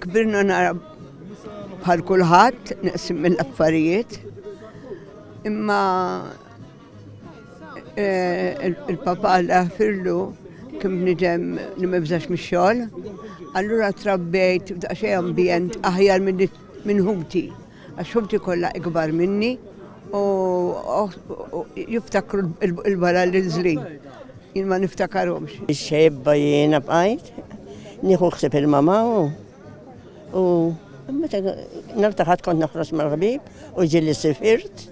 Kbirna nara bħal kulħadd neqsim mill-affarijiet. Imma eh, il-papa għalla firlu kim nidem li mibżax mix-xogħol. Allura trabbejt f'daqsxejn ambjent aħjar minn ħuti. Għax ħuti kollha ikbar minni u jiftakru l-bara li nżlin. Jien ma niftakarhomx. Xebba jiena bqajt, nieħu ħsieb il-mama u meta nartaħat kont noħroġ mal-ħbib u ġieli sifirt,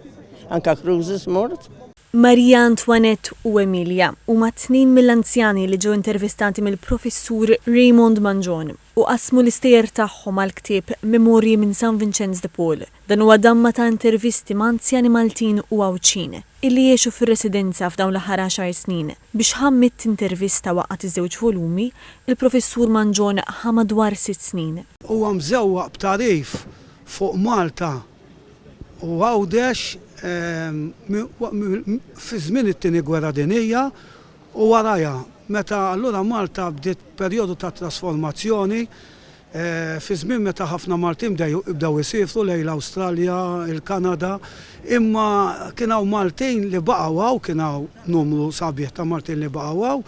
anka cruises mort. Maria Antoinette u Emilia huma tnejn mill-anzjani li ġew intervistati mill-Professur Raymond Mangion u qasmu l-istejjer tagħhom għall-ktieb Memorji minn San Vinċenz de Paul. Dan huwa damma ta' intervisti ma' anzjani Maltin u Għawdxin illi għexu fir-residenza f'dawn l-aħħar għaxar snin. Biex ħa mitt intervista waqgħat iż-żewġ volumi, il-Professur Mangion ħa madwar sitt snin. Huwa mżewwaq b'tagħrif fuq Malta u Għawdex fi żmien it-Tieni Gwerra Dinjija u warajha, meta allura Malta bdiet perjodu ta' trasformazzjoni fi żmien meta ħafna Maltin bdew isiefru lejn l-Awstralja, il-Kanada, imma kien hawn Maltin li baqgħu hawn, kien hawn numru sabiħ ta' Maltin li baqgħu hawn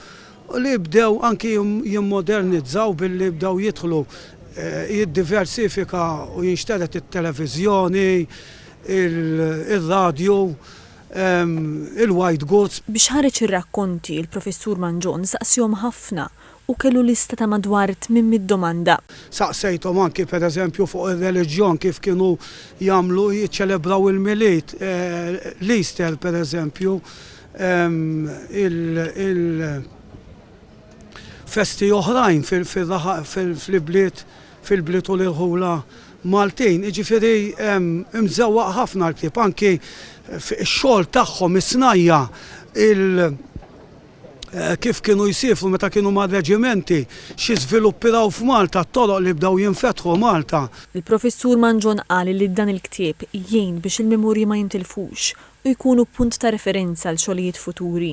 u li bdew anki jimmodernizzaw billi bdew jidħlu jiddiversifika u jinxtered it-televiżjoni, ir-radju, il-white goods. Biex ħareġ ir-rakkonti, il-Professur Mangion saqsiehom ħafna u kellu lista ta' madwar 800 domanda. Saqsejthom anki pereżempju fuq ir-reliġjon kif kienu jagħmlu jiċċelebraw il-Milied, l-Easter pereżempju, il-festi oħrajn fil-ibliet fil-bliet u l-irħula Maltin. Jiġifieri imżewwaq ħafna l-ktieb anki x-xogħol tagħhom is-snajja' kif kienu jsiefru meta kienu mar-reġimenti, xi żviluppi raw f'Malta, t-toroq li bdew jinfetħu Malta. Il-Professur Mangion qal li dan il-ktieb jgħin biex il-memorji ma jintilfux u jkunu punt ta' referenza għal xogħlijiet futuri.